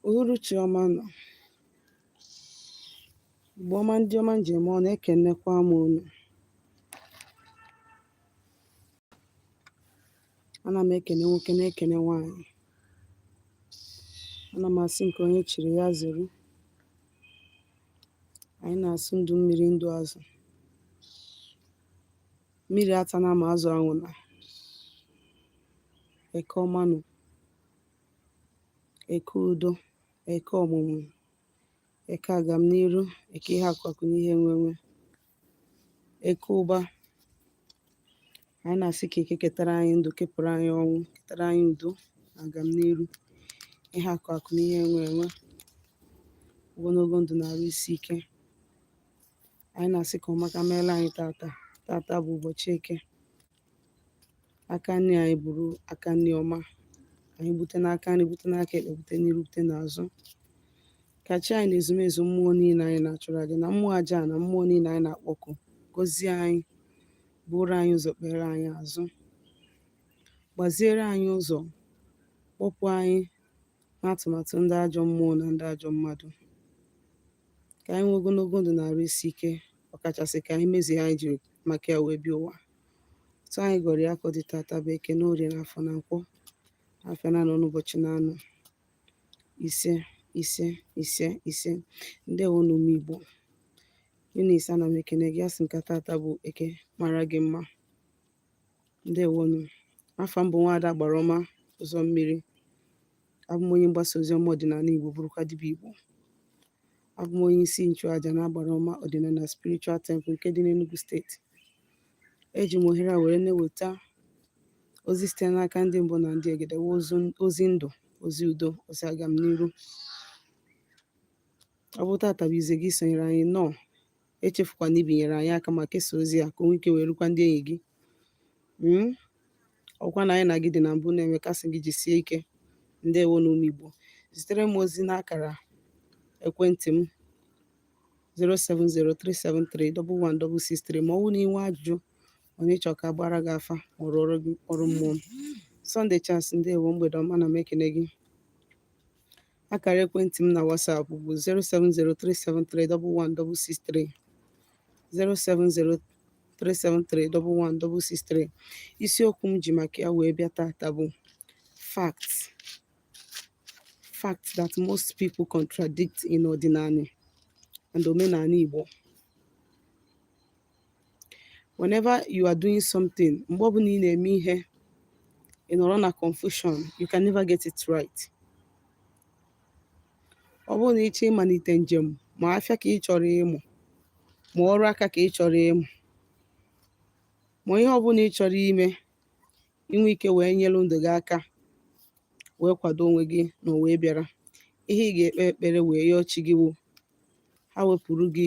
uhuruchi ọma nụ Igbo ọma ndị ọma m ji eme ọnụ ekenekwa m unu ana m ekene nwoke na-ekene nwaanyị ana m asị nke onye chiri ya zere anyị na-asị ndụ mmiri ndụ azụ mmiri atana ma azụ anwụna eke ọma nụ eke udo eke ọmụmụ eke agamniru eke ihe akụ akụ na ihe enwe enwe eke ụba anyị na-asị ka eke ketara anyị ndụ kepụrụ anyị ọnwụ ketara anyị udo na agamniru ihe akụ akụ na ihe enwe enwe ogologo ndụ na arụ isi ike anyị na-asị ka ọmaka meela anyị tata tata bụ ụbọchị eke aka nri anyị bụrụ aka nri ọma anyị bute n'aka nri bute n'aka ekpe bute n'iru bute n'azụ ka chi anyị na ezumezu mmụọ niile anyị na-achụrụ aja na mmụọ aja na mmụọ niile anyị na-akpọku gọzie anyị buru anyị ụzọ kpere anyị azụ gbaziere anyị ụzọ kpọpụ anyị n'atụmatụ ndị ajọ mmụọ na ndị ajọ mmadụ ka anyị nwee ogologo ndụ na arụ isi ike ọkachasị ka anyị mezie ihe anyị jiri maka ya wee bịa ụwa otu anyị gọrọ ya ka ọ dị tata bụ eke na orie na afọ na nkwọ afịa naanọ na ụbọchị naanọ ise ise ise ise ndewonụ ụmụ Igbo Eunice ana m ekene gị asị m ka tata bụ eke mara gị mma ǹdeèwonù afà m bụ̀ nwaada agbàrà ọma ụzọ mmiri abụ m onye mgbasa ozi ọma ọ̀dị̀nàla Igbo bụrụkwa dibịa Igbo abụ m onye isi nchụàjà na agbàrà ọma ọ̀dị̀nàla spiritual temple nke dị n'Enugu steeti eji m ohere a were na-eweta ozi site n'aka ndị mbụ na ndị egede ozi ndụ ozi udo ozi agamniru ọ bụ tata bụ izizi gị isonyere anyị nnọọ echefukwana ibinyere anyị aka ma kesaa ozi a ka o nwee ike wee rukwa ndị enyi gị hmm? ọ bụkwa na anyị na gị dị na mbụ na-eme ka a sị gị jisie ike ndewonụ ụmụ Igbo zitere m ozi n'akara ekwentị m 07037311663 ma ọ bụrụ na i nwee ajụjụ onye chọọ ka a gbaara gị afa ma ọ rụọ ọrụ mmụọ Sunday Chance ndewo mgbede ọma ana m ekene gị Akara ekwentị m na WhatsApp bụ 07037311663 07037311663 isiokwu m ji maka ya wee bịa tata bụ facts that most people contradict in ọdịnanị and omenanị Igbo whenever you are doing something mgbe ọbụla ị na-eme ihe ị nọrọ na confusion you can never get it right ọ bụrụ na ị chọọ ịmalite njem ma afịa ka ị chọrọ ịmụ ma ọrụ aka ka ị chọrọ ịmụ ma ihe ọbụla ị chọrọ ime i nwee ike wee nyere ndụ gị aka wee kwado onwe gị n'ụwa ị bịara ihe ị ga-ekpe ekpere wee yọọ chi gị wụ ha wepụrụ gị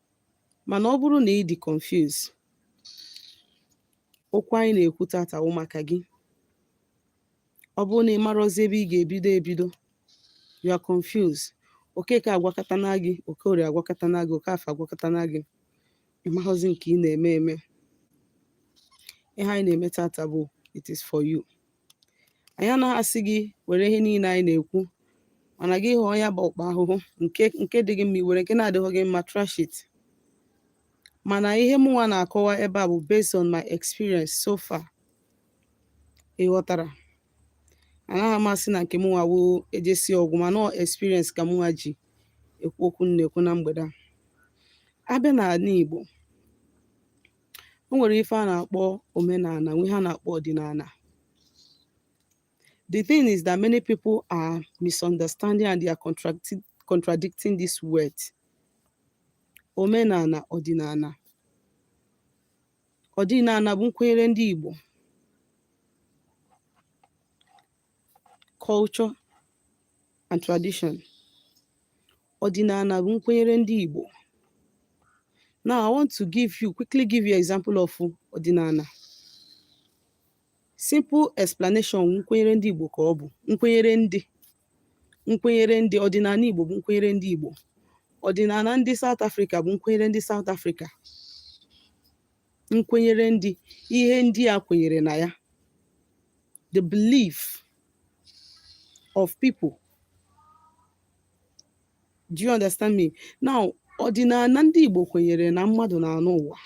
mana ọ bụrụ na ị dị confuse okwu anyị na-ekwu tata wụ maka gị ọ bụrụ na ị marọzi ebe ị ga-ebido ebido you are confused Okeke agwakatana gị Okorie agwakatana gị Okafọ agwakatana gị ị maghọzi nke ị na-eme eme ihe anyị na-eme tata bụ it is for you anyị anaghị asị gị were ihe niile anyị na-ekwu mana gị hụọ ya bụ ọkpa ahụhụ nke dị gị mma i were nke na-adịghị gị mma trash it mana ihe mụnwa na-akọwa ebe a bụ based on my experience so far ị ghọtara anaghị m asị na nke mụnwa wụ ejesi ọgwụ mana experience ka mụnwa ji ekwu okwu m na-ekwu na mgbede a a bịa n'anị Igbo e nwere ife a na-akpọ omenana nwee ihe a na-akpọ ọdịnana the thing is that many people are misunderstanding and they are contradicting this word omenana ọdịnana ọdịnana bụ nkwenyere ndị Igbo culture and tradition ọdịnana bụ nkwenyere ndị Igbo now I want to give you quickly give you example of ọdịnana simple explanation nkwenyere ndị Igbo ka ọ bụ nkwenyere ndị ọdịnana Igbo bụ nkwenyere ndị Igbo ọdịnana ndị South Africa bụ nkwenyere ndị South Africa nkwenyere ndị ihe ndị a kwenyere na ya the belief of people. Do you understand me? Now, ọdịnana ndị Igbo kwenyere na mmadụ na-anọ ụwa.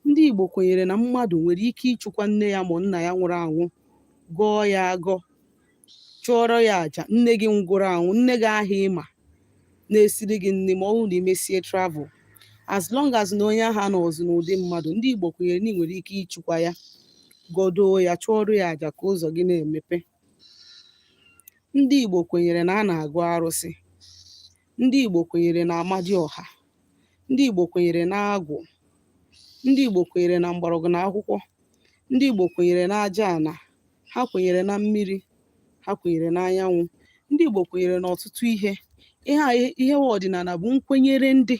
Ndị Igbo kwenyere na mmadụ nwere ike ịchọkwa nne ya ma nna ya nwụrụ anwụ, gọọ ya agọ, chụọrọ ya aja nne gị nwụrụ anwụ nne gị ahụ ịma na-esiri gị nni ma ọ bụrụ na imesie travel as long as na onye ahụ anọzi n'ụdị mmadụ ndị Igbo kwenyere na ị nwere ike ịchụkwa ya gọdoo ya chụọrọ ya aja ka ụzọ gị na-emepe ndị Igbo kwenyere na a na-agọ arụsị ndị Igbo kwenyere na Amadioha ndị Igbo kwenyere na agwụ ndị Igbo kwenyere na mgbọrọgwụ na akwụkwọ ndị Igbo kwenyere na aja ana ha kwenyere na mmiri ha kwenyere na anyanwụ ndị Igbo kwenyere na ọtụtụ ihe ihe a ihe wa ọdịnana bụ nkwenyere ndị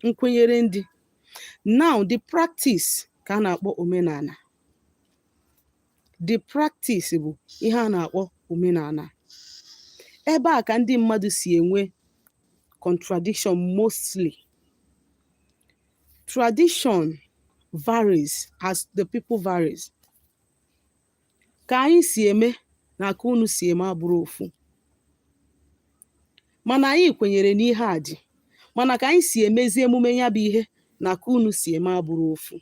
nkwenyere ndị now the practice ka a na-akpọ omenana the practice bụ ihe a na-akpọ omenana ebe a ka ndị mmadụ si enwe contradiction mostly tradition varies as the people varies ka anyị si eme na ka unu si eme abụrọ ofu mana anyị kwenyere n'ihe a dị mana ka anyị si emezi emume ya bụ ihe na ka unu si eme abụrọ ofu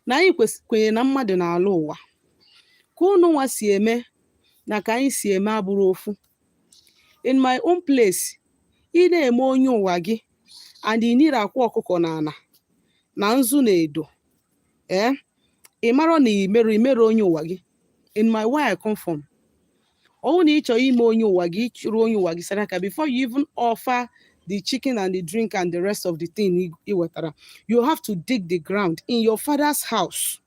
na anyị kwes- kwenyere na mmadụ na-alọ ụwa ka unu nwa si eme na ka anyị si eme abụrọ ofu in my own place ị na-eme onye ụwa gị and i nirọ akwa ọkụkọ n'ana na nzu na edo ee eh? ị mara na imerọ imerọ onye ụwa gị in my where I come from ọwụ na ịchọ ime onye ụwa gị ịchụrụ onye ụwa gị saraka before you even offer the chicken and the drink and the rest of the thing ị wetara you have to dig the ground in your father's house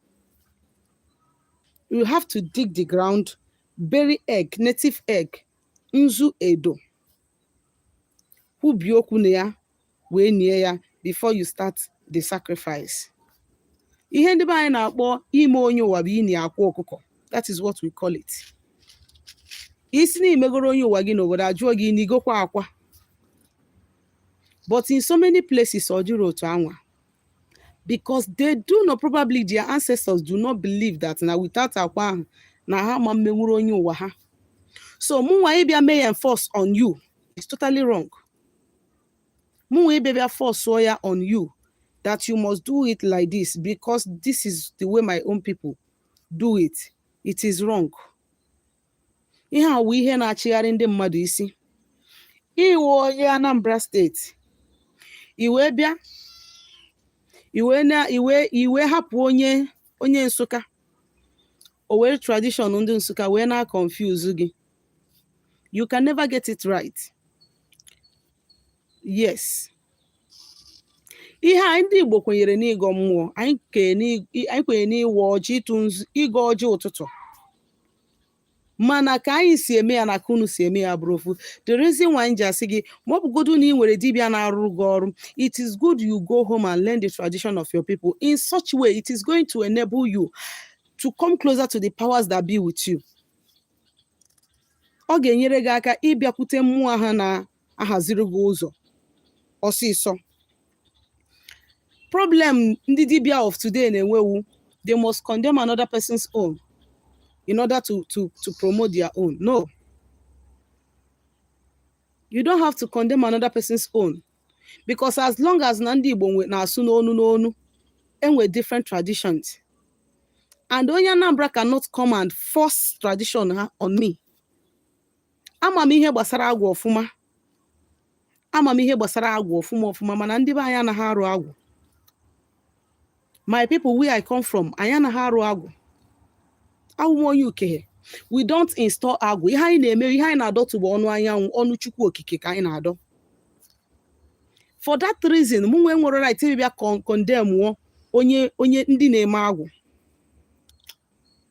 you have to dig the ground bury egg native egg nzu edo kwubie okwu na ya wee nie ya before you start the sacrifice ihe ndị be anyị na-akpọ ime onye ụwa bụ ini akwa ọkụkọ that is what we call it isi na imegoro onye ụwa gị n'obodo ajụọ gị inigokwa akwa but in so many places ọ dịrọ otu anwa because they do not probably their ancestors do not believe that na without akwa ahụ na ha ma mmenwuru onye ụwa ha so mụnwa ịbịa mee ya enforce on you is totally wrong mụnwa ịbịa bịa force ya on you that you must do it like this because this is the way my own people do it it is wrong ihe a wụ ihe na-achịgharị ndị mmadụ isi ị wụ onye Anambra steeti i wee bịa i wee na i wee i wee hapụ onye onye Nsụka o were tradition ndị Nsụka wee na confuse gị you can never get it right yes ihe anyị ndị Igbo kwenyere n'ịgọ mmụọ anyị kwenyere n'ịwa ọjị ịtụ ịgọ ọjị ụtụtụ mana ka anyị si eme ya na ka unu si eme ya abụrọ ofu the reason why m ji asị gị ma ọ bụgodu na ị nwere dibịa na-arụrụ gị ọrụ it is good you go home and learn the tradition of your people in such way it is going to enable you to come closer to the powers that be with you ọ ga-enyere gị aka ịbịakwute mmụọ ha na ahaziri gị ụzọ ọsịsọ problem ndị dibia of today na-enwe wụ they must condemn another person's own in order to to to promote their own no you don't have to condemn another person's own because as long as na ndị Igbo na-asụ n'onu n'onu enwe different traditions and onye Anambra cannot come and force tradition ha on me ama m ihe gbasara agwụ ọfụma ama m ihe gbasara agwụ ọfụma ọfụma mana ndị be anyị anaghị arụ agwụ my people where i come from anyị anaghị arụ agwụ awụ m onye Ukehe we don't install agwụ ihe anyị na-eme ihe anyị na-adọtụ bụ ọnụ anyanwụ ọnụ chukwu okike ka anyị na-adọ for that reason mụnwa enwerọ right ịbịa condemn onye onye ndị na-eme agwụ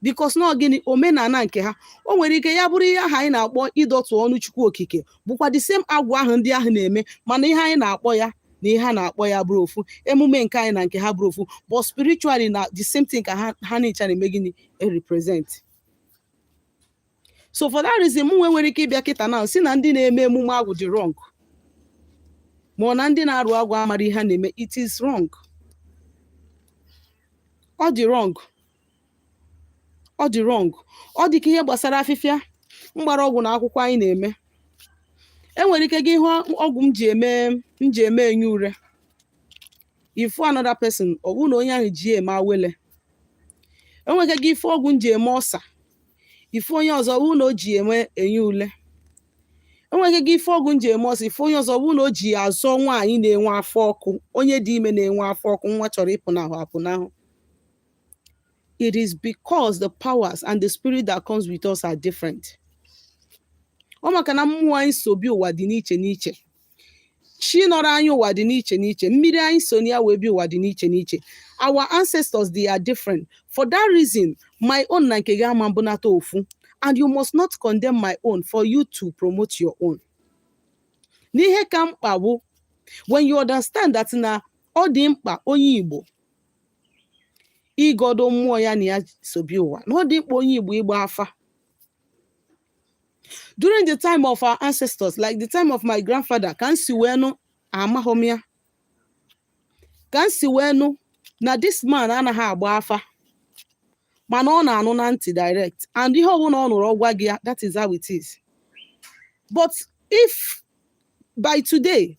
because na gịnị omenala nke ha o nwere ike ya bụrụ ihe ahụ anyị na-akpọ ịdọtụ ọnụ chukwu okike bụkwa the same agwụ ahụ ndị ahụ na-eme mana ihe anyị na-akpọ ya na ihe ha na-akpọ ya abụrọ ofu emume nke anyị na nke ha abụrọ ofu but spiritually na the same thing ka ha ha ncha na-eme gịnị represent so for that reason mụnwa enwerọ ike ịbịa kịta na-asị na ndị na-eme emume agwụ dị wrong ma na ndị na-arụ agwụ amarọ ihe ha na-eme it is wrong ọ dị wrong ọ dị wrong ọ dị ka ihe gbasara afịfịa mgbọrọgwụ na akwụkwọ anyị na-eme enwere ike gị hụ ọgwụ m ji eme m ji eme enyi ure ị fụ another person ọ bụrụ na onye ahụ ji eme awele enwere ike gị ịfụ ọgwụ m ji eme ọsa ị fụ onye ọzọ ọ bụrụ na o ji ya eme enyi ule enwere ike gị ịfụ ọgwụ m ji eme ọsọ ị fụ onye ọzọ ọ bụrụ na o ji ya azọ nwaanyị na-enwe afọ ọkụ onye dị ime na-enwe afọ ọkụ nwa chọrọ ịpụnahụ apụnahụ it is because the powers and the spirit that comes with us are different ọ maka na mmụọ anyị so bịa ụwa dị n'iche n'iche chi nọrọ anyị ụwa dị n'iche n'iche mmiri anyị so ya wee bịa ụwa dị n'iche n'iche our ancestors they are different for that reason my own na nke gị ama mbụnata ofu and you must not condemn my own for you to promote your own n'ihe ka mkpa bụ when you understand that na ọ dị mkpa onye Igbo ịgọdọ mmụọ ya na ya so bịa ụwa na ọ dị mkpa onye Igbo ịgba afa during the time of our ancestors like the time of my grandfather ka m si wee nụ amahọ m ya ka m si wee nụ na this man anaghị agba afa mana ọ na-anụ na ntị direct and ihe ọbụla ọ nụrụ ọ gwa gị ya that is how it is but if by today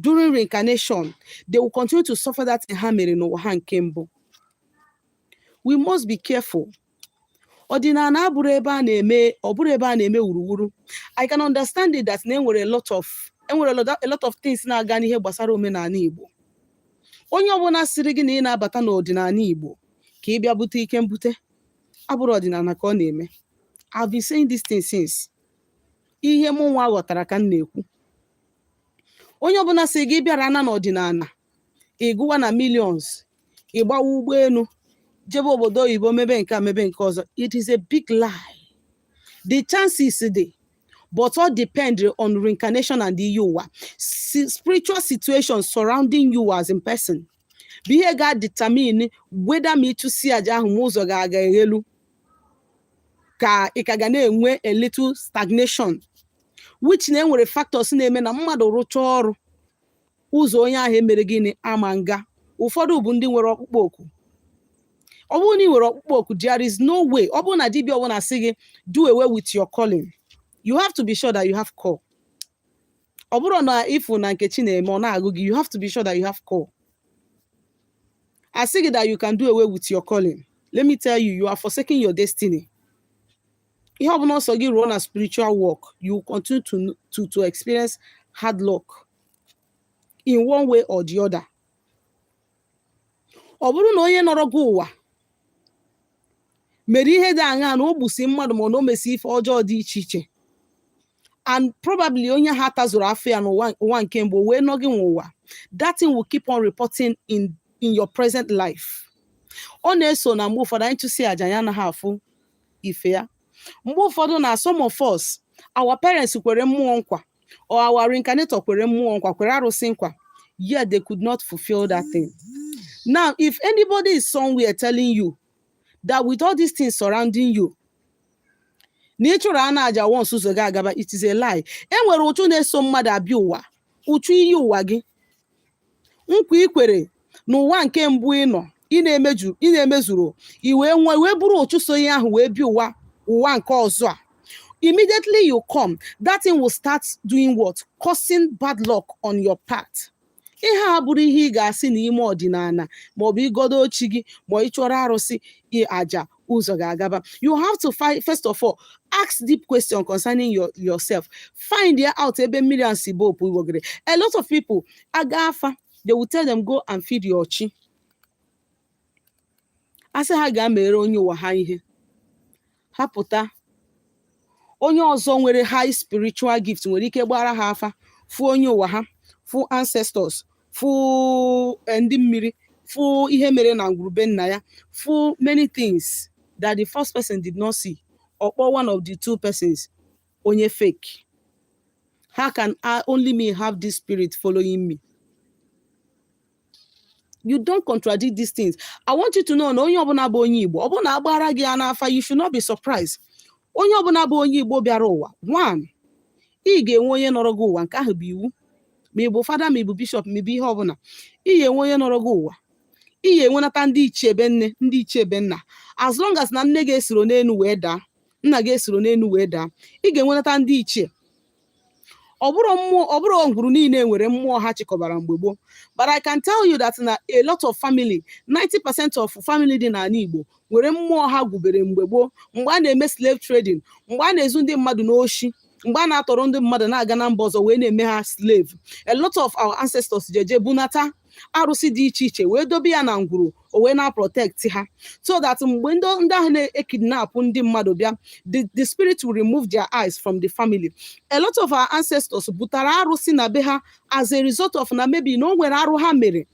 during reincarnation they will continue to suffer that thing ha mere n'ụwa ha nke mbụ we must be careful ọdịnala abụrọ ebe a na-eme ọ bụrọ ebe a na-eme wuruwuru i can understand it that na enwere a lot of enwere a lot of things na-aga n'ihe gbasara omenala igbo onye ọbụla sịrị gị na ị na-abata n'ọdịnala igbo ka ị bịa bute ike mbute abụrọ ọdịnala ka ọ na-eme I've been saying this thing since ihe mụ nwa ghọtara ka m na-ekwu onye ọbụla sị gị bịara na n'ọdịnala ị gụwa na millions ị gbawa ụgbọelu jebe obodo oyibo mebe nke a mebe nke ọzọ it is a big lie the chances dị but all depend on reincarnation and iyi ụwa si- spiritual situation surrounding you as in person bụ ihe ga-determine whether ma ị chụsịa aja ahụ ma ụzọ ga-aga eghelu ka ị ka ga na-enwe a little stagnation which na enwere factors na-eme na mmadụ rụchaa ọrụ ụzọ onye ahụ emere gịnị ama nga ụfọdụ bụ ndị nwere ọkpụkpọ oku ọ bụrụ na ị nwere ọkpụkpọ oku there is no way ọ bụrụ na dibịa ọbụla sị gị do away with your calling you have to be sure that you have call ọ bụrụ na ị fụ na Nkechi na-eme ọ na-agụ gị you have to be sure that you have call a sị gị that you can do away with your calling let me tell you you are forsaking your destiny ihe ọbụla ọ sọ gị rụọ na spiritual work you continue to, to, to experience hard luck in one way or the other ọ bụrụ na onye nọrọ gị ụwa mere ihe dị aṅa na o gbusi mmadụ ma ọ na o mesi ife ọjọọ dị iche iche and probably onye ahụ atazurọ afụfụ ya n'ụwa ụwa nke mbụ wee nọ gị nwa ụwa that thing will keep on reporting in in your present life ọ na-eso na mgbe ụfọdụ anyị chụsịa aja ya anaghị afụ ife ya mgbe ụfọdụ na some of us our parents kwere mmụọ nkwa or our reincarnator kwere mmụọ nkwa kwere arụsị nkwa yet they could not fulfill that thing now if anybody is somewhere telling you that with all these things surrounding you na ị chụrụ ana aja once ụzọ gị agaba it is a lie e nwere ụchụ na-eso mmadụ abịa ụwa ụchụ iyi ụwa gị nkwa ikwere n'ụwa nke mbụ ị nọ ị na-emeju ị na-emezuro i wee nwụọ i wee buru ụchụ so ihe ahụ wee bịa ụwa ụwa nke ọzọ a immediately you come that thing will start doing what causing bad luck on your path ihe a abụrọ ihe ị ga-asị na ime ọdịnala maọbụ igodo chi gị ma ị chụọrọ arụsị aja ụzọ ga-agaba you have to find first of all ask deep question concerning your yourself find out ebe mmiri a si ba opu ụgbọgọrọ a lot of people agaa afa they will tell them go and feed your chi a sị ha gaa mere onye ụwa ha ihe ha pụta onye ọzọ nwere high spiritual gift nwere ike gbaara ha afa fụ onye ụwa ha fụ ancestors fụ eh, ndị mmiri fụ ihe mere na ngwuru be nna ya fụ many things that the first person did not see ọ kpọọ one of the two persons onye fake how can I only me have this spirit following me you don't contradict these things i want you to know na onye ọbụla bụ onye igbo ọ bụrụ na a gbara gị ya n'afa you should not be surprised onye ọbụla bụ onye igbo bịara ụwa one ị ga-enwe onye nọrọ gị ụwa nke ahụ bụ iwu ma ị bụ fada ma ị bụ bishọp ma ị bụ ihe ọbụla ị ga-enwe onye nọrọ gị ụwa ị ga-enwenata ndị ichie ebe nne ndị ichie ebe nna as long as na nne gị esiro n'elu wee daa nna gị esiro n'elu wee daa ị ga-enwenata ndị ichie ọ bụrụ mmụọ ọ bụrọ ngwuru niile nwere mmụọ ha chịkọbara mgbe gboo but I can tell you that na a lot of family 90% of family dị n'ala Igbo nwere mmụọ ha gwubere mgbe gboo mgbe a na-eme slave trading mgbe a na-ezu ndị mmadụ n'oshi mgbe a na-atọrọ ndị mmadụ na-aga na mba ọzọ wee na-eme ha slave a lot of our ancestors jeje bunata arụsị dị iche iche wee dobe ya na ngwuru o wee na-protect ha so that mgbe ndị ndị ahụ na-ekidnapụ ndị mmadụ bịa the, the spirit will remove their eyes from the family a lot of our ancestors butara arụsị na be ha as a result of na maybe na o nwere arụ ha mere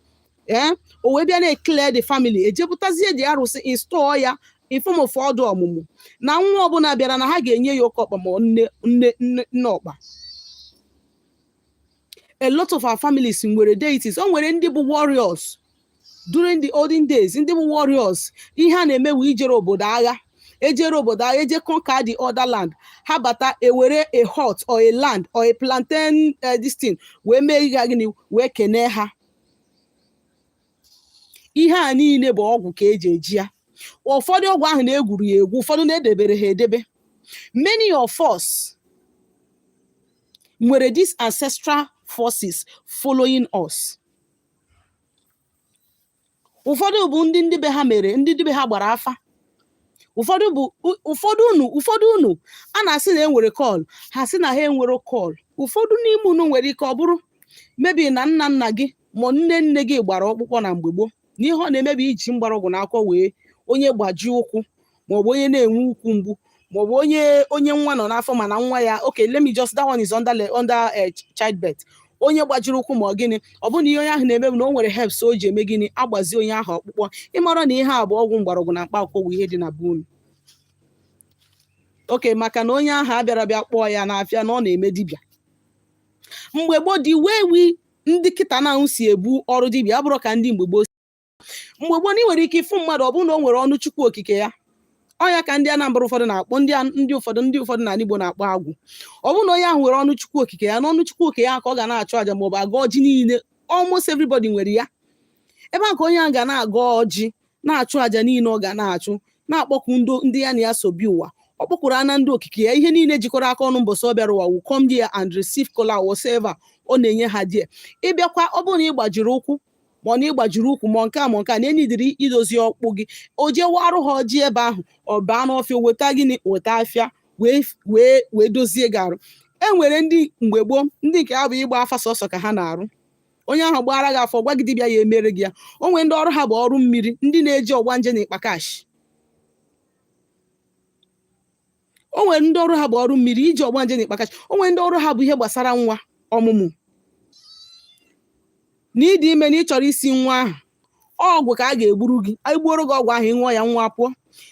ee o wee bịa na-eclear the family ejepụtazie the arụsị install ya in form of ọdụ ọmụmụ na nwa ọbụla bịara na ha ga-enye ya oke ọkpa ma ọ nne ọkpa a lot of our families nwere deities o nwere ndị bụ warriors during the olden days ndị bụ warriors ihe a na-eme wee ijere obodo agha ejere obodo agha eje conquer the other land ha bata ewere a hut or a land or a plantain uh, this thing wee mee ihe gịnị wee kenee ha ihe a niile bụ ọgwụ ka eji eje ya ụfọdụ ọgwụ ahụ na-egwuru ya egwu ụfọdụ na-edebere ha edebe many of us nwere these ancestral forces following us ụfọdụ bụ ndị ndị be ha mere ndị ndị be ha gbara afa ụfọdụ bụ u- ụfọdụ unu ụfọdụ unu a na-asị na enwere call ha sị na ha enwero call ụfọdụ n'ime unu nwere ike ọ bụrụ maybe na nna nna gị ma nne nne gị gbara ọkpụkpọ na mgbe gboo na ihe ọ na-eme bụ iji mgbọrọgwụ na akwụkwọ wee onye gbaji ụkwụ maọbụ onye na-enwe ụkwụ mgbu maọbụ onye onye nwa nọ n'afọ mana nwa ya okay let me just that one is under le- under eh, ch- childbirth onye gbajiri ụkwụ ma ọ gịnị ọ bụrụ na ihe onye ahụ na-eme bụ na o nwere herbs o ji eme gịnị agbazi onye ahụ ọkpụkpọ ị mara na ihe a bụ ọgwụ mgbọrọgwụ na mkpa akwụkwọ bụ ihe dị na be unu okay maka na onye ahụ abịarọ bịa kpọọ ya n'afa na ọ na-eme dibịa mgbe gboo the way we ndị kịta na ahụ si ebu ọrụ dibịa abụrọ ka ndị mgbe gboo mgbe gboo na ị nwere ike ịfụ mmadụ ọ bụrụ na o nwere ọnụ chukwu okike ya ọ nya ka ndị Anambra ụfọdụ na-akpọ ndị ndị ụfọdụ ndị ụfọdụ na Igbo na-akpọ agwụ ọ bụrụ na onye ahụ nwere ọnụ chukwu okike ya na ọnụ chukwu okike ya ka ọ ga na-achụ aja maọbụ agọ ọjị niile almost everybody nwere ya ebe a ka onye ahụ ga na-agọ ọjị na-achụ aja niile ọ ga na-achụ na-akpọku ndị ya na ya so bịa ụwa ọ kpọkuru ana ndị okike ya ihe niile jikọrọ aka ọnụ mbọsị ọ bịara ụwa will come there and receive kola whatever ọ na-enye ha there ị bịakwa ọ bụrụ na ị gbajiri ụkwụ ma ọ na ị gbajiri ụkwụ ma nke a ma nke a na e need-iri idozi ọkpụ gị o je waarụ ha ọjị ebe ahụ ọ baa n'ọfịa weta gịnị weta afịfịa wee wee wee dozie gị arụ e nwere ndị mgbe gboo ndị nke ha bụ ịgba afa sọsọ ka ha na-arụ onye ahụ gbaara gị afa gwa gị dibịa ya-emere gị ya o nwere ndị ọrụ ha bụ ọrụ mmiri ndị na-eji ọgbanje na ịkpa kash o nwere ndị ọrụ ha bụ ọrụ mmiri iji ọgbanje na ịkpa kash o nwere ndị ọrụ ha bụ ihe gbasara nwa ọmụmụ na ị dị ime na ị chọrọ isi nwa ahụ ọgwụ ka a ga-egburu gị e gbuoro gị ọgwụ ahụ ị ṅụọ ya nwa pụọ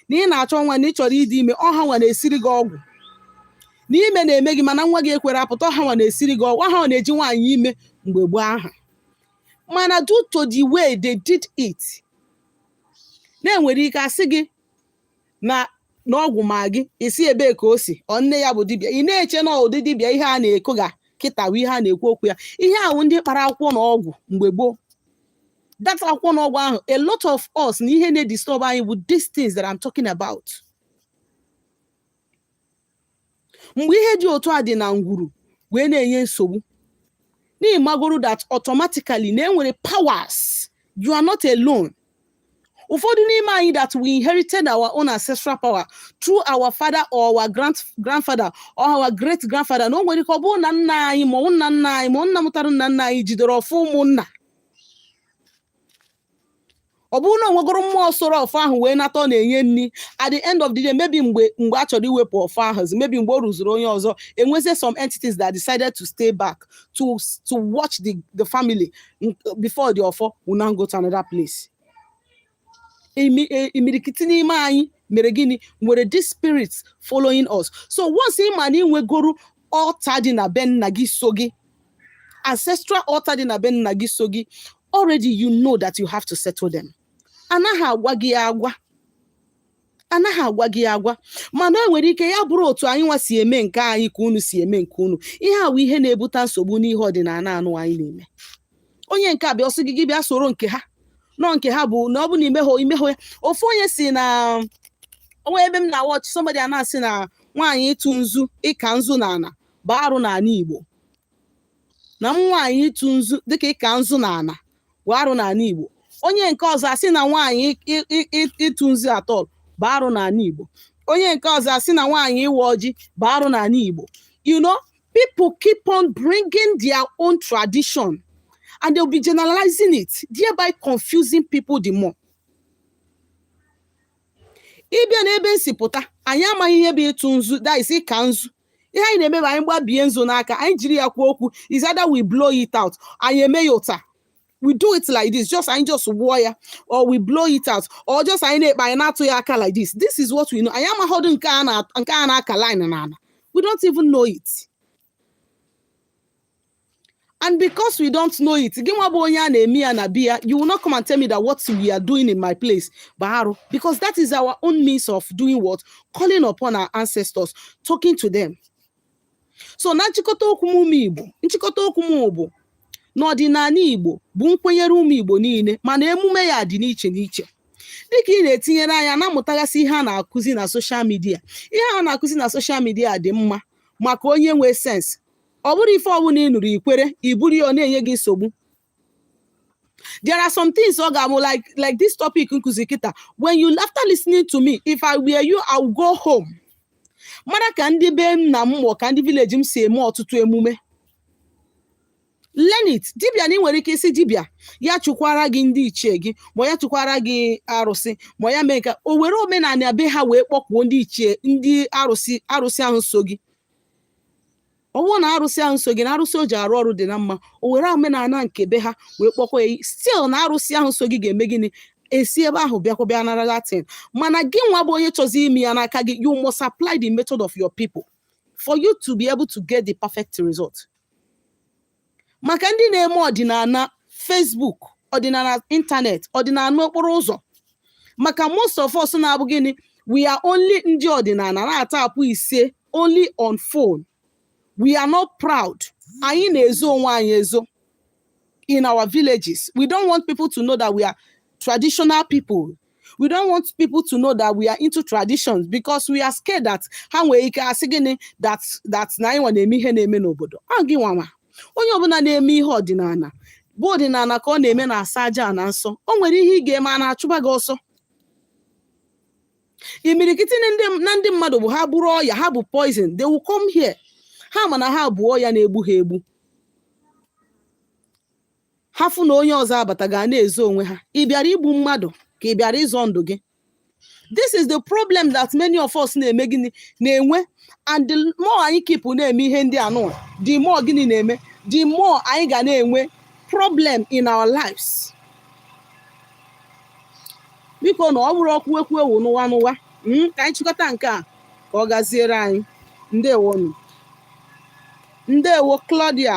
na ị na-achọ nwa na ị chọrọ ịdị ime ọ ha nwa na-esiri gị ọgwụ na ime na-eme gị mana nwa gị ekwero apụta ọ ha nwa na-esiri gị ọgwụ ọ ha nwa na-eji nwaanyị ime mgbe gboo aha mana due to the way they did it na e nwere ike asị gị na n'ọgwụ ma gị isi ebee ka o si ọ nne ya bụ dibịa ị na-eche na ọ ụdị dibịa ihe a na-eko ga kịta bụ ihe a na-ekwu okwu ya ihe ahụ ndị kpara akwụkwọ na ọgwụ mgbe gboo that akwụkwọ na ọgwụ ahụ a lot of us na ihe na-edisturb anyị bụ these things that I'm talking about. mgbe ihe dị otu a dị na ngwuru wee na-enye nsogbu n'ịmagoro that automatically na enwere powers you are not alone ụfọdụ n'ime anyị that we inherited our own ancestral power through our father or our grand grandfather or our great grandfather na o nwere ike ọ bụrụ na nna anyị ma ọ bụ nna nna anyị ma ọ nna mụtara nna nna anyị jidere ọfọ ụmụnna ọ bụrụ na onwegoro mmụọ soro ọfọ ahụ wee nata ọ na-enye nri at the end of the day maybe mgbe mgbe a chọrọ iwepụ ọfọ ahụ zi maybe mgbe o ruzuru onye ọzọ enwezie some entities that decided to stay back to to watch the the family n- before the ọfọ will now go to another place imi- e- imirikiti n'ime anyị mere gịnị nwere this spirit following us so once ị ma na inwegoro altar dị na be nna gị so gị ancestral altar dị na be nna gị so gị already you know that you have to settle them anaghị agwa gị agwa anaghị agwa gị agwa mana o nwere ike ya bụrụ otu anyị nwa si eme nke anyị ka unu si eme nke unu ihe a wụ ihe na-ebute nsogbu n'ihe ọdịnala a nụ anyị na-eme onye nke a bịa ọ sị gị gị bịa soro nke ha na ọ nke ha bụ na ọ bụ na imehụ imehụ ya ofu onye sị na o nwe ebe m na watch somebody a na-asị na nwaanyị ịtụ nzu ịka nzu na ana bụ arụ n'ala Igbo na nwaanyị ịtụ nzu dịka ịka nzu na ana bụ arụ n'ala Igbo onye nke ọzọ asị na nwaanyị ịtụ nzu at all bụ arụ n'ala Igbo onye nke ọzọ asị na nwaanyị ịwa ọjị bụ arụ n'ala Igbo you know people keep on bringing their own tradition and they'll be generalizing it, thereby confusing people the more. ịbịa n'ebe m si pụta anyị amaghị ihe bụ ịtụ nzu that is ịka nzu ihe anyị na-eme bụ anyị gbabie nzu n'aka anyị jiri ya kwuo okwu is either we blow it out anyị eme ya otu a we do it like this just anyị just wụọ ya or we blow it out or just anyị na-ekpe anyị na-atụ ya aka like this this is what we know anyị amaghọdụ nke a na nke a na-aka line na ala we don't even know it and because we don't know it gị nwa bụ onye a na-eme ya na be ya you will not come and tell me that what we are doing in my place bụ arụ because that is our own means of doing what calling upon our ancestors talking to them so na nchịkọta okwu m ụmụ igbo nchịkọta okwu m bụ na ọdịnala igbo bụ nkwenyere ụmụ igbo niile mana emume ya dị n'iche n'iche dịka ị na-etinyere anya na-amụtagasị ihe a na-akụzi na social media ihe a na-akụzi na social media dị mma maka onye nwee sense ọ bụrụ ife ọbụla ị nụrụ i kwere i buru ya ọ na-enye gị nsogbu there are some things ọ ga-abụ like this topic nkuzi kịta when you after listening to me if i were you i will go home mara ka ndị be nna m mọọ ka ndị village m si eme ọtụtụ emume learn it dibịa na ị nwere ike ịsị dibịa ya chụkwara gị ndị ichie gị ma ya chụkwara gị arụsị ma ya mee ka o were omenala be ha wee kpọkwuo ndị ichie ndị arụsị ahụ so gị ọ bụrụ na arụsị ahụ so gị na arụsị o ji arụ ọrụ dị na mma o were omenala nke be ha wee kpọkwa ya still na arụsị ahụ so gị ga-eme gịnị esi ebe ahụ bịakwa bịa nara that thing mana gị nwa bụ onye chọzi ime ya n'aka gị you must apply the method of your people for you to be able to get the perfect result. maka ndị na-eme ọdịnala Facebook ọdịnala ịntanetị ọdịnala okporo ụzọ maka most of us na-abụ gịnị we are only ndị ọdịnala na-atype isee only on phone we are not proud anyị na-ezo onwe anyị ezo in our villages we don't want people to know that we are traditional people we don't want people to know that we are into traditions because we are scared that ha nwere ike asị gịnị that na anyị nwa na-eme ihe na-eme n'obodo ọ gị nwa ma onye ọbụla na-eme ihe ọdịnala bụ ọdịnala ka ọ na-eme na-asọ aja ana nsọ o nwere ihe ị ga-eme ana achụba gị ọsọ imirikiti na ndị mmadụ bụ ha buru ọya ha bu poison they will come here ha ma na ha bu ọya na-egbu ha egbu ha fụ na onye ọzọ abata ga na-ezo onwe ha ị bịara igbu mmadụ ka ị bịara ịzọ ndụ gị this is the problem that many of us na-eme gịnị na-enwe and the more anyị keep na-eme ihe ndị anụwa the more gịnị na-eme the more anyị ga na-enwe problem in our lives biko na ọ bụrụ okwu ekwu ewu n'ụwa n'ụwa hmm, ka anyị chịkọta nke a ka ọ gaziere anyị ndewonụ ndewo Claudia